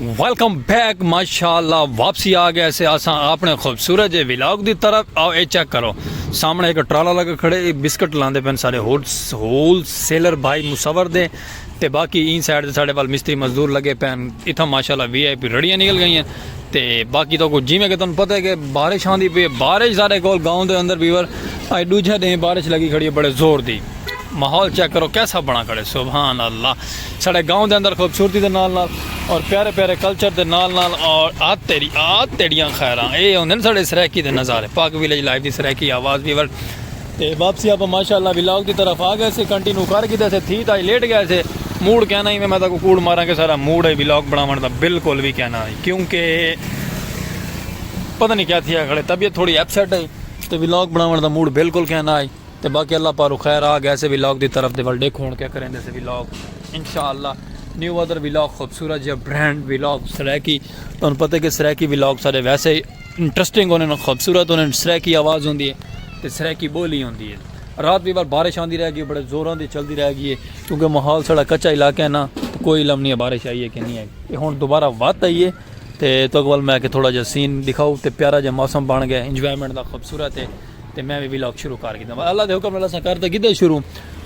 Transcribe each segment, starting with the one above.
Welcome back ماشاءاللہ واپسی آ گیا سے آسان اپنے خوبصورت جے ویلاگ دی طرف آؤ اے چیک کرو سامنے ایک ٹرالا لگا کھڑے اے بسکٹ لاندے پین سارے ہول سیلر بھائی مصور دے تے باقی این سائیڈ دے سارے وال مستری مزدور لگے پین اتھا ماشاءاللہ وی آئی پی رڑیاں نکل گئی ہیں تے باقی تو کو جی میں کہ تن پتہ ہے کہ بارش آن دی پی بارش سارے کول گاؤں دے اندر بیور آئی ڈو جہ دیں بارش لگی کھڑی ہے بڑے زور دی ماحول چیک کرو کیسا بنا کھڑے سبحان اللہ ساڑے گاؤں دے اندر خوبصورتی دے نال نال اور پیارے پیارے کلچر دے نال نال اور آت تیری آت تیڑیاں خیراں اے ہوندے نے ساڑے سرائیکی دے نظارے پاک ویلیج لائیو دی سرائیکی آواز ویور تے واپسی آپ ماشاءاللہ ویلاگ دی طرف آ گئے سے کنٹینیو کر گیتے سے تھی تائی لیٹ گئے سے موڑ کہنا ہی میں میں تاکو کوڑ مارا کہ سارا موڑ ہے ویلاگ بناوان دا بالکل بھی کہنا ہی کیونکہ پتہ نہیں کیا تھی ہے کھڑے طبیعت تھوڑی اپسیٹ ہے تے ویلاگ بناوان دا موڑ بالکل کہنا ہی تے باقی اللہ پاروں خیر آ گئے سے ولاگ دی طرف دے ول ڈیکھ ہون کیا کریں دے سے ولاگ انشاءاللہ نیو ادر ولاگ خوبصورت جے برانڈ ولاگ سرائیکی تانوں پتہ کہ سرائیکی ولاگ سارے ویسے انٹرسٹنگ ہونے نا خوبصورت ہونے سرائیکی آواز ہوندی ہے تے سرائیکی بولی ہوندی ہے رات بھی بار بارش آندی رہ گئی بڑے زوراں دی چلدی رہ گئی ہے کیونکہ ماحول سڑا کچا علاقہ ہے نا کوئی علم نہیں ہے بارش آئی ہے کہ نہیں آئی ہن دوبارہ وات آئی ہے تے تو اقبال میں کہ تھوڑا جا سین دکھاؤ تے پیارا جا موسم بن گیا انجوائمنٹ دا خوبصورت ہے تے میں وی ولاگ شروع کر گھدا اللہ دے حکم نال اساں کر تے گھدا شروع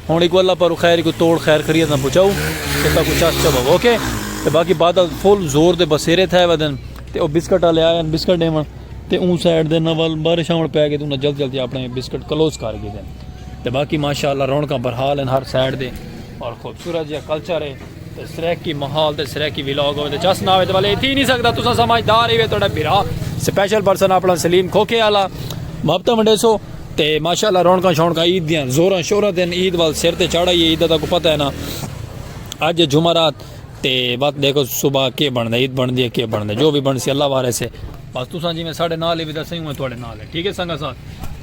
ہن اکو اللہ پارو خیر کو توڑ خیر خریت نہ پچاؤ تے تاکو چاس چبو اوکے تے باقی بادل فل زور دے بسیرے تھے ودن تے او بسکٹ والے آئے بسکٹ دیون تے اون سائیڈ دے نال بارش آون پے گئی تے انہاں جلدی جلدی اپنے بسکٹ کلوز کر گھدے تے باقی ماشاءاللہ رونقاں برحال ہیں ہر سائیڈ دے اور خوبصورت جہاں کلچر ہے تے سرائیکی ماحول تے سرائیکی ولاگ ہوے تے چا سناوے تے والے تھی نہیں سکدا تساں سمجھدار ہی وے تہاڈا بھرا سپیشل پرسن اپنا سلیم کھوکھے والا محبتاں ونڈیسو تے ماشاءاللہ رونقاں شونقاں عید دیاں زوراں شوراں تے عید وال سر تے چڑھ آئیے عید دا کو پتہ ہے نا اج ہے جمعرات تے وقت دیکھو صبح کے بندا عید بندی ہے کے بندا جو بھی بنسی اللہ وارث ہے بس تساں جویں ساڈے نال ہی ودا سہی ہوں تہاڈے نال ہے ٹھیک ہے سنگا ساتھ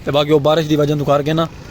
تے باقی او بارش دی وجہ تو کر کے نا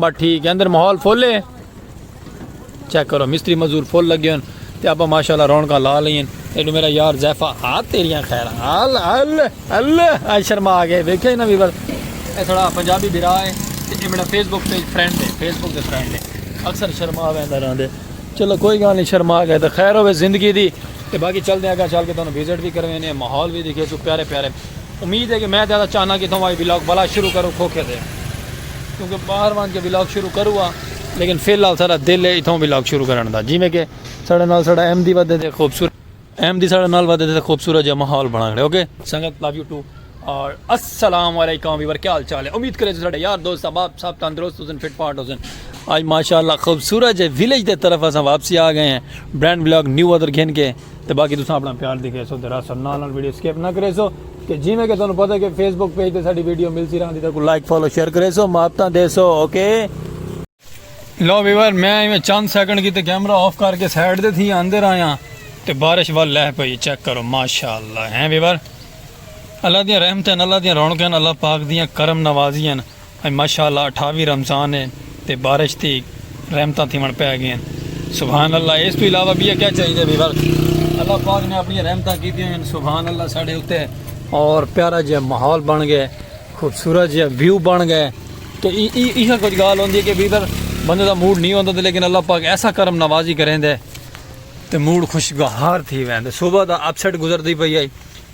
بس ٹھیک ہے اندر ماحول فل ہے چیک کرو مستری مزدور فل لگے ہن تے اپا ماشاءاللہ رونقاں لا لئین ایڈو میرا یار زیفا آ تیریاں خیر ال ال ال اج شرما آ گئے ویکھے نہ ویور اے سڑا پنجابی بھرا ہے تے اے میرا فیس بک پیج فرینڈ ہے فیس بک دے فرینڈ ہے اکثر شرما ویندا رہندے چلو کوئی گل نہیں شرما گئے تے خیر ہوے زندگی دی تے باقی چل دے اگا چل کے تانوں وزٹ بھی کروینے ماحول بھی دکھے سو پیارے پیارے امید ہے کہ میں زیادہ چاہنا کہ تھوما یہ ولاگ بلا شروع کرو کھوکھے دے کیونکہ باہر وان کے ولاگ شروع کرو ہاں لیکن فی الحال سارا دل ہے اتھوں ولاگ شروع کرن دا جی میں کہ سارے نال سارا ایم دی ودے دے خوبصورت ایم دی سارے نال ودے دے خوبصورت جا ماحول بنا کھڑے اوکے سنگت لو یو ٹو اور السلام علیکم ویور کیا حال چال ہے امید کرے سارے یار دوست احباب صاحب تندرست حسن فٹ پارٹ حسن آج ماشاءاللہ خوبصورت جے ویلیج دے طرف اساں واپسی آ گئے ہیں برانڈ ولاگ نیو ادر گھن کے تے باقی تساں اپنا پیار دکھیسو تے راسو نال نال ویڈیو سکپ نہ کریسو تے جیویں کہ تانوں پتہ کہ فیس بک پیج تے ساڈی ویڈیو ملسی راہندی تے کو لائک فالو شیئر کریسو محبتاں دیسو اوکے لو ویور میں ایویں چند سیکنڈ کی تے کیمرہ آف کر کے سائیڈ دے تھی آندے رہاں تے بارش وال لہ پئی چیک کرو ماشاءاللہ ہیں ویور اللہ دیاں رحمتیں اللہ دیاں رونقیں اللہ پاک دیاں کرم نوازیاں اڄ ماشاء اللہ اٹھاوی رمضان ہے تے بارش دی رحمتاں تھیوݨ پئے گئین سبحان اللہ ایس توں علاوہ بیا کیا چاہیدے بھئی بس اللہ پاک نے اپنی رحمتاں کیتیاں ہن سبحان اللہ ساڈے اتے اور پیارا جیا ماحول بن گئے خوبصورت جیا ویو بن گئے تو ای ای ایہ کچھ گال ہوندی ہے کہ بھئی بس بندے دا موڈ نہیں ہوندا تے لیکن اللہ پاک ایسا کرم نوازی کریندے تے موڈ خوشگوار تھی ویندے صبح دا اپ سیٹ گزردی پئی ہے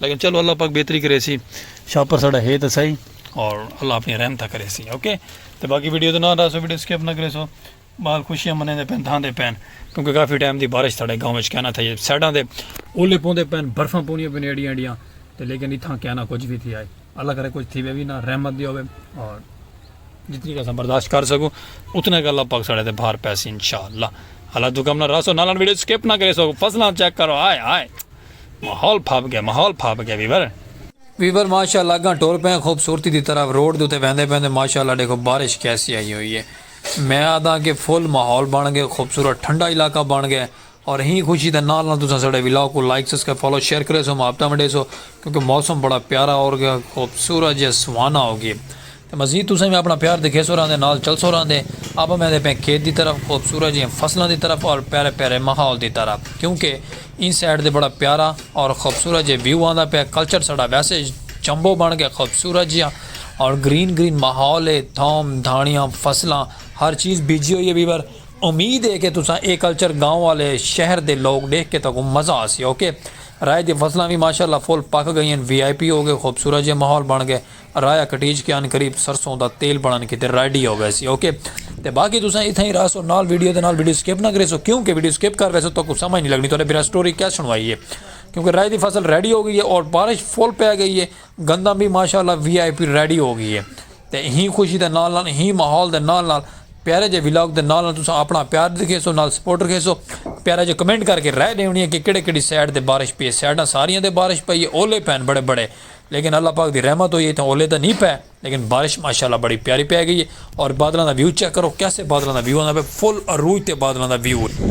لیکن چلو اللہ پاک بہتری کرے سی شاپر ساڑا ہے تو صحیح اور اللہ اپنی رحمتہ کرے سی اوکے تو باقی ویڈیو تو نہ رہا سو ویڈیو سکپ نہ کرے سو بال خوشیاں منے دے پین دھان دے پین کیونکہ کافی ٹائم دی بارش ساڑے گاؤں وچ کہنا تھا یہ سائڈاں دے اولے پوندے پین برفاں پونیاں پین ایڈیاں ایڈیاں تو لیکن اتھاں کہنا کچھ بھی تھی آئے اللہ کرے کچھ تھی وی نہ رحمت دی ہوے اور جتنی کہ اساں برداشت کر سکوں اتنا کہ اللہ پاک ساڑے تے بھار پیسی انشاءاللہ اللہ تو کم نہ راسو نہ لن ویڈیو سکپ نہ کرے سو فصلاں چیک کرو آئے آئے ماحول پھاپ گیا ماحول پھاپ گیا ویور ویور ماشاءاللہ گاں ٹور پہ خوبصورتی دی طرف روڈ دے تے ویندے پیندے ماشاءاللہ دیکھو بارش کیسی آئی ہوئی ہے میں آدھا کہ فل ماحول بن گئے خوبصورت ٹھنڈا علاقہ بن گئے اور اہیں خوشی دے نال نال تساں ساڈے ولاگ کوں لائک سبسکرائب فالو شیئر کریسو محبتاں ونڈیسو کیونکہ موسم بڑا پیارا اور گیا خوبصورت جے سہانا ہو گئے تے مزید تساں وی اپنا پیار دکھیسو راہندے نال چلسو راہندے اپاں ویندے پئیں کھیت دی طرف خوبصورت جیاں فصلاں دی طرف اور پیارے پیارے ماحول دی طرح کیونکہ ایں سائیڈ تے بڑا پیارا اور خوبصورت جے ویو آندا پئے کلچر ساڈا ویسے جمبو بن گئے خوبصورت جیاں اور گرین گرین ماحول ہے دھوم دھانڑیاں فصلاں ہر چیز بیجی ہوئی ہے ویور امید ہے کہ تساں اے کلچر گاؤں آلے شہر دے لوگ ڈیکھ کے تہاکوں مزہ آسی ok رائے دی فصلاں وی ماشاء اللہ فل پک گئین وی آئی پی ہو گئے خوبصورت جئے ماحول بن گئے رایا کٹیج کے عنقریب سرسوں دا تیل بنن کیتے ریڈی ہو ویسی ok تے باقی تساں اتھاں ہی رہسو نال ویڈیو دے نال ویڈیو سکپ نہ کریسو کیوں کہ ویڈیو سکپ کر ویسو تہاکوں سمجھ نی لگنی تہاڈے بھرا سٹوری کیا سنوائی ہے کیوں کہ رائے دی فصل ریڈی ہو گئی ہے اور بارش فل پے گئی ہے گندم وی ماشاء اللہ وی آئی پی ریڈی ہو گئی ہے تے ہی خوشی دے نال نال ہی ماحول دے نال نال پیارے جے ولاگ دے نال نال تساں اپنا پیار دکھے سو نال سپورٹ رکھے سو پیارے جے کمنٹ کر کے رائے ڈیونی ہے کہ کیڑے کیڑی سائڈ دے بارش پی ہے سائڈاں ساریاں دے بارش پئی ہے اولے پین بڑے بڑے لیکن اللہ پاک دی رحمت ہوئی ہے تے اولے تے نہیں پے لیکن بارش ماشاءاللہ بڑی پیاری پی گئی ہے اور بادلاں دا ویو چیک کرو کیسے بادلاں دا ویو ہوندا پے فل عروج تے بادلاں دا ویو ہے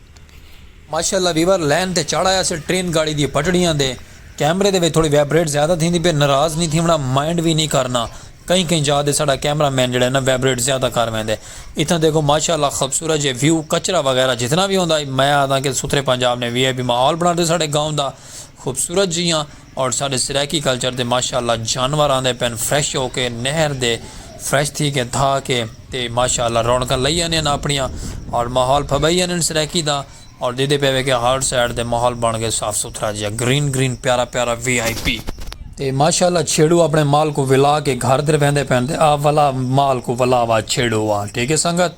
ماشاءاللہ ویور لین تے چڑھ آیا سے ٹرین گاڑی دی پٹڑیاں دے کیمرے دے وچ تھوڑی ویبریٹ زیادہ تھیندی پئی ناراض نی تھیونڑا مائنڈ وی نی کرنا کہیں کہیں جاہ تے ساڈا کیمرہ مین جیڑھا ہے نا ویبریٹ زیادہ کر ویندے اتھاں دیکھو ماشاءاللہ خوبصورت جے ویو کچرا وغیرہ جتنا وی ہوندا میں آکھداں کہ ستھرے پنجاب نے وی آئی پی ماحول بناتے ساڈے گاؤں دا خوبصورت جیاں اور ساڈے سرائیکی کلچر دے ماشاء اللہ جانور آندے پئن فریش ہو کے نہر دے فریش تھی کے دھا کے تے ماشاء اللہ رونقاں لئی آنین اپنڑیاں اور ماحول پھبئی آنین سرائیکی دا اور دیدے پئے وے کے ہر سائیڈ دے ماحول بنڑ گئے صاف ستھرا جیا گرین گرین پیارا پیارا وی آئی پی تے ماشاء اللہ چھیڑو اپنڑے مال کو ولا کے گھر دے ویندے پئن تے آ ولا مال کو ولا وا چھیڑو وا ٹھیک ہے سنگت۔